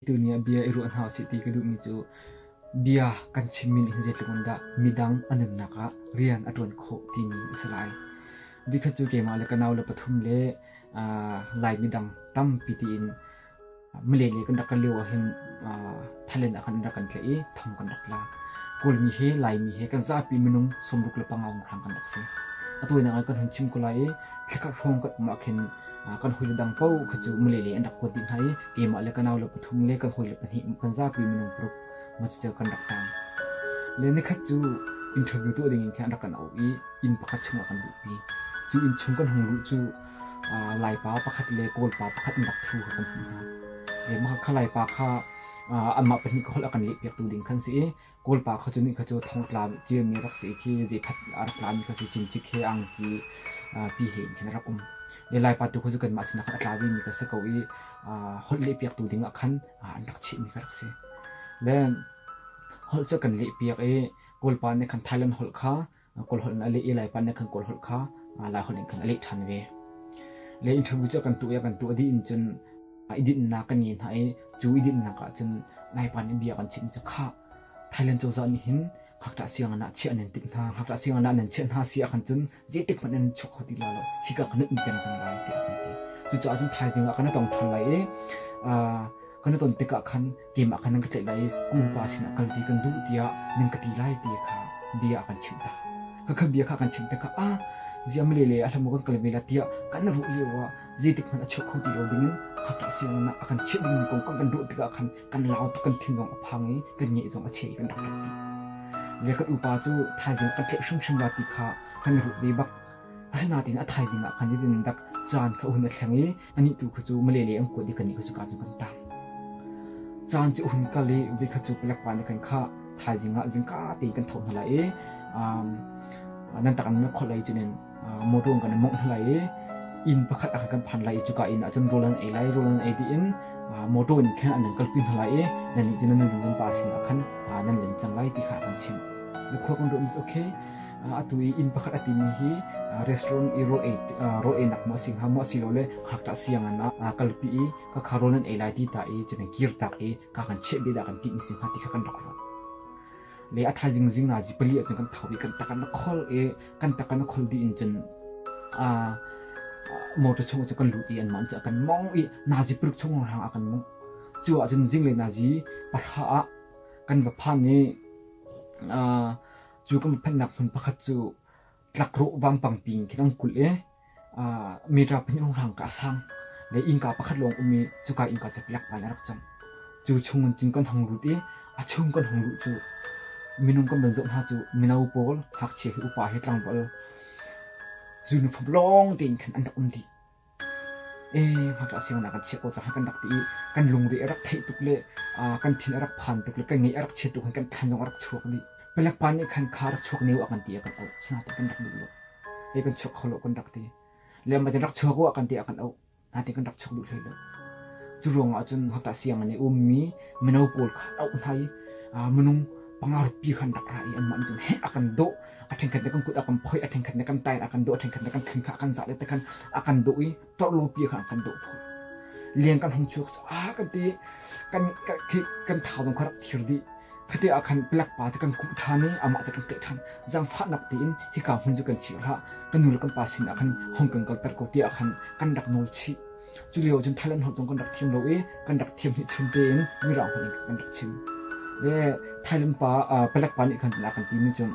Tuni ah bia i ruah hna usih ti ka duhmi cu bia kan chimmi nih hin zeitluk in dah midang a nunnak ah rian a ṭuan khawh timi a si lai. Vikhat cu keimah le ka nau le pathum le aa Lai midang tampi tiin Malay kan rak lio ah hin Thailand ah kan rak kan tlaih i thong kan rak la. Kawlmi he Laimi he kan zapi minung sawmruk le pangaung rang kan rak si. Atu nak kan hun chim ko lai i thlakhat hrawng kan mak hin kan hoi le dang po kha cu Malay an rak kuat dih hna i keimah le kanau le pathum le kan hoi le pahnih kan zapi minung paruk ma cu kan rak tang. Le nikhat cu interview tu ding in khan rak kan au i inn pakhat chung ah kan luhpi. Cu inn chung kan hung luh cu Laipa pakhat le Kawlpa pakhat an rak ṭhu kha kan hmuh hna. Mah kha Laipa kha anmah pahnih ka holh a kan lehpiaktu ding kan si i Kawlpa kha cu ni kha cu thongtla ciami rak si khi zeiphat a rak tlami kha si cincik he angki pi he in khin a rak um. Le Laipa tu kha cu kanmah sinah khan a tla vemi ka si ko i holh lehpiaktu dingah khan an rak chimhmi ka rak si. Le holh cu kan lehpiak i Kawlpa nih khan Thailand holh kha kawlholh in a leh i Laipa nih khan kawlholh kha laiholh in khan a leh ṭhan ve. Le interview cu a kan tuah i a kan tuah dih in cun i dinhnak kan ngei hna i cu i dinhnak ah cun Laipa nih bia a kan chimh cu khah Thailand cozah nih hin ngakṭah sianginn ah chiah nan timh hna ngakṭah sianginn ah nan chiah hna si ahkhan cun zeitik hmanh in chuak kho ti lo hika ka nunh peng cang lai tiah a kan ti. Cucaah cun thaizing ah kan i tong ṭhan lai i kan i ton tikah khan keimah khan nan ka tlaih lai i kum upa sinah kalvi kan duh tiah nan ka ti lai ti kha bia a kan chimh ta khakha bia kha kan chimh tikha a ziam le le a hlamu kan kal vela tiah kan ruh lio ah zeitik hmanh a chuk kho ti lo dingin khapla siangana a kan chimh dingmi kong kan kan ruh tikah khan kan lau tu kan thinggong a phang i kan nge zong a che kan rak rak ti le kan upa cu thaizing kan tlaih hrimhrim wa ti kha kan ruh ve bak Asinain a thaizing ah khan idin dak caan kha hun a thleng i anih tu khu cu malele an kuat i kani khu cu ka cu kan tang. Caan cu hun kal i vi kha cu palek pa nih kan kha thaizing ah zingka te kan tho hna lai i nan tak nan kholh lai cunin motor kan mongh hna lai i inn pakhat ah kan phan lai i cuka inn ahcun rul an ei lai rul an ei tiin motor in khan an kalpi hna lai i nannih cu nan nungan pa sin ah khan nan len cang lai ti kha kan chimh. The Quote on Road is okay. atu i inn pakhat a timi hi restaurant i rawhnak maw a si hnga maw asilole ngakṭah sianginn ah kalpi i ka kharo nan ei lai ti ta i cun kirtak i ka kan cheh beh dah kan ti ni si hnga ti kha kan rak ruat le a thaizing zing na zi pali atun kan thau i kan takan na khol i kan takan na khol di in cun a motor chung cu kan lut i an man cu kan mong i nazi puruk chung rang a kan mong cu ah cun zingle nazi pahra ah kan va phan i Cu kan phanhnak hmun pakhat cu tlakrawh vampangpi in kan kulh i metra pahnih rang ka sang le innka pakhat lawng um i cuka innka cu pelek pan a rak cang cu chungin tun kan hong lut i a chung kan hong luh cu minung kan van zoh hna cu mino pawl ngakchia hi upa hi tlangval zuniform lawng tein khan an rak um dih ngakṭah siangnak kan chiah ko caah kan rak ti i kan lungre a rak theih tuk le kan thin a rak phan tuk le kan ngeih a rak chiat tuk kan than zong a rak chuak dih. Palek pa nih khan kha rak chuak ne a kan ti a kan auh sina ti kan rak duh lo ei kan chuak kho lo kan rak ti le ma ran rak chuak u a kan ti a kan auh na ti kan rak chuak duh hlei lo cu ruang ah cun hota siang ne ummi mino pawl kha auh hna i minung panga rupi khan rak ra i anmah cun he a kan dawh a ṭhenkhat nih kan kut a kan phoih a ṭhenkhat nih kan tair a kan dawh a ṭhenkhat nih kan thin kha a kan zah le te khan a kan dawh i torlo pi kha a kan dawh tawn liang kan hong chuak a kan ti kan kan thau zong kha rak thir dih khati ah khan pelak pa te kan kuh than i amah te kan keh than zang fahnak tiin hika hmun chu kan chir hla ka nu le kan pa sin ah khan hong kan kal ter ko ti ah khan kan rak nol chih Culio cun thal an hon tung kan rak thiam lo i kan rak thiam hnih chun tein mirang hon in kan rak chim. Ve Thailand pa palek pa nih khan a kan ti mi cun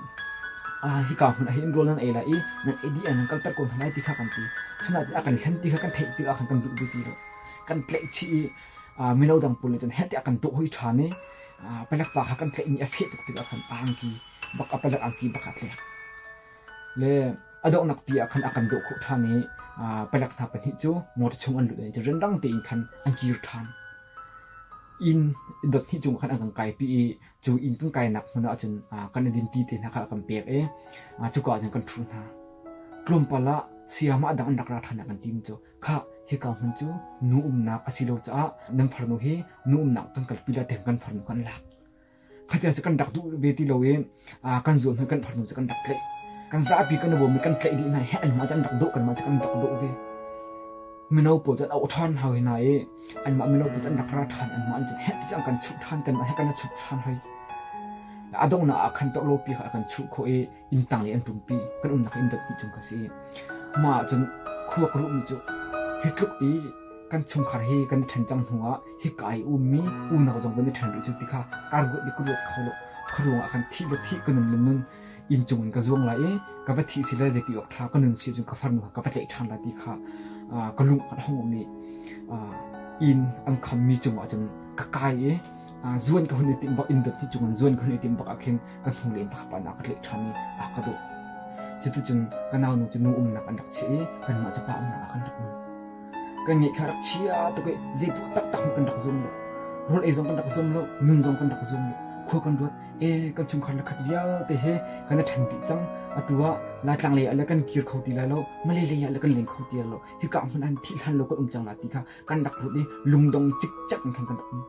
hi ka hmun ah hin rol nan ei lai i nan edi an kal ter ko hna lai ti kha kan ti suna ti a kan thlen ti kha kan theih ti kha kan kan duh ti lo kan tleih chi i mino dang pun cun heti a kan tuh hoi than i palek pa kha kan tleih mi a feh tuk ti kha kan angki bak a palek angki bak a tleak le a donghnak pi ah khan a kan dawh khawh ṭhan i palek hna pahnih cu motor chung an lut i randang tein khan an kir ṭhan. Inn dot hnih chung khan an kan kaipi i cu inn kan kainak hmun ah cun kan i dinti te hna kha a kan pek i cuka ah cun kan ṭhu hna. Tlawmpal ah sayama dang an rak ra ṭhan kan tim cu kha hika hmun cu nu umnak a si lo caah nan farnu hi nu umnak kan kalpi la tiang kan farnu kan lak. khatia cu kan rak duh ve ti lo i kan zual hmanh kan phar hnu cu kan rak tlaih kan zapi kan uvom i kan tlaih dih hna i heh anmah cu an rak doh kan mah cu kan rak doh ve mino pawl cu an auh ṭhan hoi hna i anmah mino pawl cu an rak ra ṭhan anmah an cun heh ti an kan chuh ṭhan kanmah he kan rak chuh ṭhan hoi a donghnak ah khan torlo pi kha a kan chuh khawh i inn tang i an ṭumpi kan umnak inn dot hnih chung ka si mah ah cun khua ka ruhmi cu hi tluk i kan chungkhar hi kan i ṭhen cang hnuah hi ka i ummi unau zong kan i ṭhen rih cu ti kha ka ruat ni ka ruat kho lo khuaruang ah khan thih le thih ka nun le nun inn cung in ka zuang lai i ka va thih si le zeki awk ṭha ka nun si cun ka farnu ka va tlaih ṭhan lai ti kha ka lung khat hong i inn an khammi cungah cun ka kai i zuan ka hun i tim bak inn dot hnih cung in zuan ka hun i tim bak ah khin An hnulei in pakhat pa ka tleh ṭhan i a ka dawh. Cuticun ka naunu cu nu umnak an rak chiah i kanmah cu pa umnak ah kan rak um. Kan ngeih kha rak chia tuk i zeituah taktak hmanh kan rak zum lo. Rawl ei zong kan rak zum lo, nun zong kan rak zum lo. Khua kan ruat, e kan chungkhar le khat vialte he kan i ṭhen dih cang. Atu ah Laitlang lei ah le kan kir kho ti lai lo, Malay lei ah le kan leng kho ti lai lo. Hika hmanh an thih hlan lo kan um cang lai ti kha kan rak ruat i lungdong cikcak in khan kan rak um.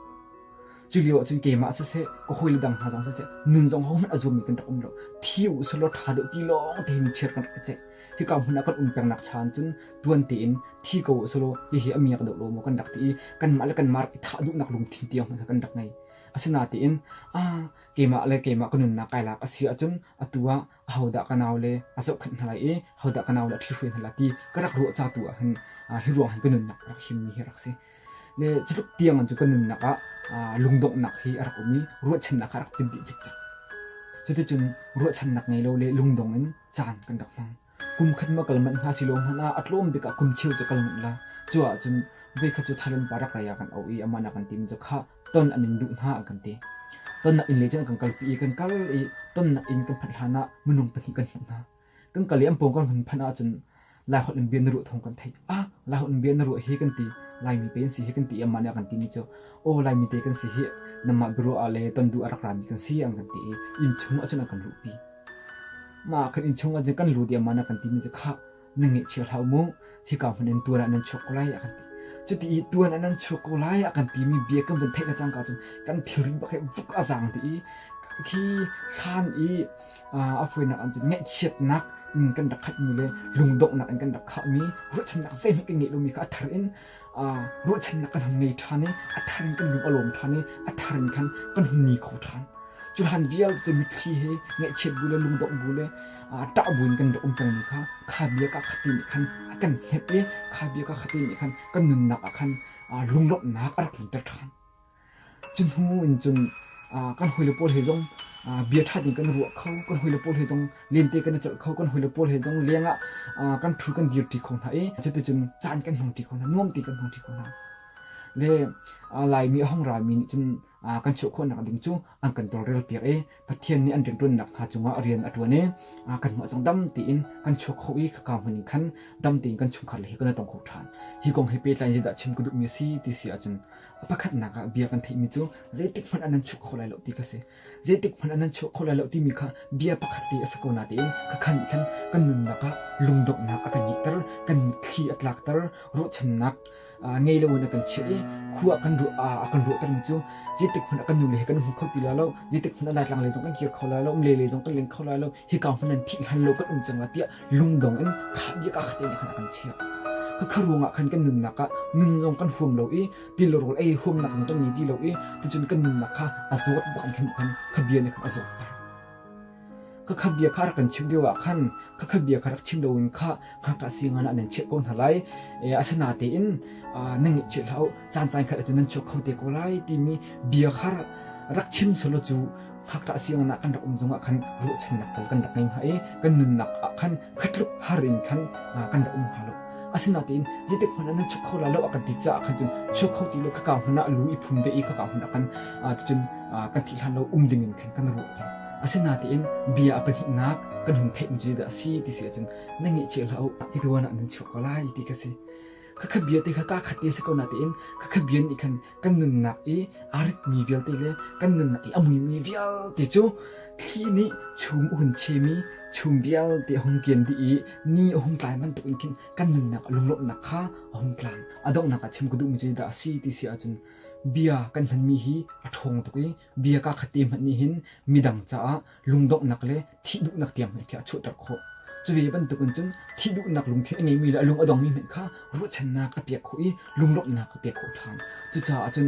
Culio ahcun keimah siseh, ka hawile dang hna zong siseh, nun zong hohmanh a zummi kan rak um lo. Thi u sih law ṭha deuh ti lawng tein chiat kan rak ceih. Hika hmun ah kan um peng nak chan cun tuan tein thi ko u sih law hihi a miak deuh lo maw kan rak ti i kanmah le kanmah rak i thah duhnak lungthin tiang hmanh kha kan rak ngei. Asinain aa keimah le keimah ka nunnak kai lak a si ahcun atu ah ahodah ka nau le a zohkhenh hna lai i ahodah ka nau le a thli hruai hna lai ti ka rak ruah ca tu ah hin hi ruang hin ka nunnak rak himmi hi rak si le cutluk tiang cu ka nunnak ah lungdonghnak hi a rak um i ruahchannak a rak pin dih cikcak cuticun ruahchannak ngei lo le lungdong in caan kan rak hmang kum khat ma kal manh hna si lo hmanh ah a tlawm bik ah kum cheu cu kal manh la cu ah cun veikhat cu thalen pa rak raya kan au i amana kan tim cu khah ton an in duh hna a kan ti tonnak inn le cun kan kalpi i kan kal i tonnak inn kan phanh hlan ah minung pahnih kan hmuh hna kan kal i an pawng kan hun phanh ahcun lai holh in bia na ruah thawng kan theih ah lai holh in bia na ruah hi kan ti laimi pe an si hi kan ti i amah nih a kan ti mi cu o laimi te kan si hi namah biaruah ah le ton du a rak rami kan si an kan ti i inn chung ahcun a kan luhpi mah kan inn chung ahcun kan luh diam man a kan ti mi cu khah na ngeihchir hlah mu hika hmun in tuan ah nan chuak ko lai a kan ti cuti i tuan ah nan chuak ko lai a kan timi bia kan van theih cangka cun kan thilri bak he vuk a zang ti i khi hlan i a foinak an cun ngaihchiatnak in kan rak khat mi le lungdonghnak in kan rak khah mi ruahchannak zei hmanh kan ngeih lomi kha a thar in ruahchannak kan hun ngei ṭhan i a thar in kan lung a lawm ṭhan i a thar in khan kan hun ni kho ṭhan cu hlan vial cu mitthli he ngaihchiat bu le lungdongh bu le ṭah buin kan rak um pengmi kha kha bia ka khati nih khan a kan hnemh i kha bia ka khati nih khan kan nunnak ah khan lunglawmhnak a rak lunter ṭhan Cuhnu in cun kan hawile pawl he zong bia ṭhat in kan i ruah kho. Kan hawile pawl he zong lente kan i celh kho. Kan hawile pawl he zong leng ah kan ṭhul kan dirṭi kho hna i cuticun caan kan hmang ṭi kho hna. Nuam tein kan hmang ṭi kho hna. Le Laimi a hung rami nih cun kan chuah khawhnak ding cu an kan tawlrel piak i Pathian nih an rianṭuannak hna cungah rian a ṭuan i kan hmuh cang dam tiin kan chuak kho i khaka hmun in khan dam tein kan chungkhar le hi kan tong kho ṭhan. Hi kong he pehtlai in zeidah chim ka duhmi a si ti si ahcun pakhatnak ah bia kan theihmi cu zeitik hmanh ah nan chuak kho lai lo ti ka si. Zeitik hmanh ah nan chuak kho lai lo timi kha bia pakhat te a si ko natein ka khan nih khan kan nunnak ah lungdonghnak a kan ngeihter, kan mitthli a tlakter, ruahchannak ngei loin a kan chiah i khua kan ruah a kan ruahtermi cu zeitik hmanh a kan nule he kan hmu kho ti lai lo zeitik hmanh a laitlang lei zong kan kir kho lai lo umle lei zong kan leng kho lai lo hika hmanh an thih hlan lo kan um cang tiah lungdong in kha bia ka khatin khan a kan chiah khakha ruangah khan kan nunnak kha nun zong kan huam lo i tilrawl ei huamnak zong kan ngei ti lo i tucun kan nunnak kha a zawt bak khan khan kha bia ne khan a zawt ka khat bia kha a rak kan chimh lio ah khan ka khat bia kha rak chim loin kha ngakṭah si ngan ah nan chiah ko hna lai asana tein na ngeihchih hlah u caan caan khat cu nan chuak kho te ko lai timi bia kha rak chim solo cu ngakṭah si ngan ah kan rak um zong ah khan ruahchannak tal kan rak ngei hnga i kan nunnak ah khan khatluk har in khan kan rak um hnga lo asinain zetik hmun nan chuk kho la lo a kan ti caah khan cun chuk kho ti lo ka ka hmun ah lu i phum ve i ka ka hmun ah kan cun kan thi hlan lo um ding in khan kan ru cang asinain bia a pahnih nak kan hun theih mu da si ti si cun na ngi che la u hi ka wana nan chuk ko lai ti ka si kha kha bia te kha ka khat te se ko na te in kha kha bia ni khan kan nunnak i a ritmi vialte le kan nunnak i a muimi vialte cu thli nih chung a hun chemi chung vialte a hung kian dih i ni a hung tlai bantuk in khin kan nunnak a lunglawmhnak kha a hung tlang a donghnak ah chim ka duhmi cu dah a si ti si ahcun bia kan hmanmi hi a ṭhawng tuk i Bia ka khat te hmanh nih hin midang caah lungdonghnak le thih duhnak tiang hmanh khi a chuahter khawh. Cu ve bantukin cun thih duhnak lungthin a ngeimi le a lung a dongmi hmanh kha ruahchannak a pek khawh i lunglawmhnak a pek khawh hlan. Cucaah cun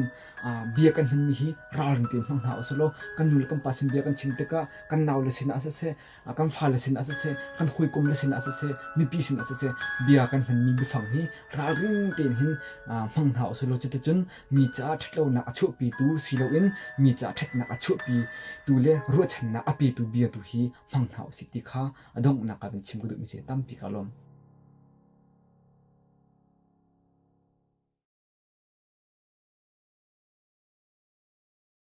bia kan hmanmi hi ralring te hmang hna usih law kan nu le kan pa sin bia kan chim tikah kan nau le sinah siseh kan fale sin ah siseh kan hawikom le sin ah siseh mipi sin ah siseh bia kan hmanmi biafang hi ralring tein hin hmang hna usih law cuticun mi caah ṭhatlonak a chuahpitu si loin mi caah ṭhatnak a chuahpitu le ruahchannak a petu bia tu hi hmang hna usih ti kha a donghnak ah kan chim ka duhmi se tampi ka lawm.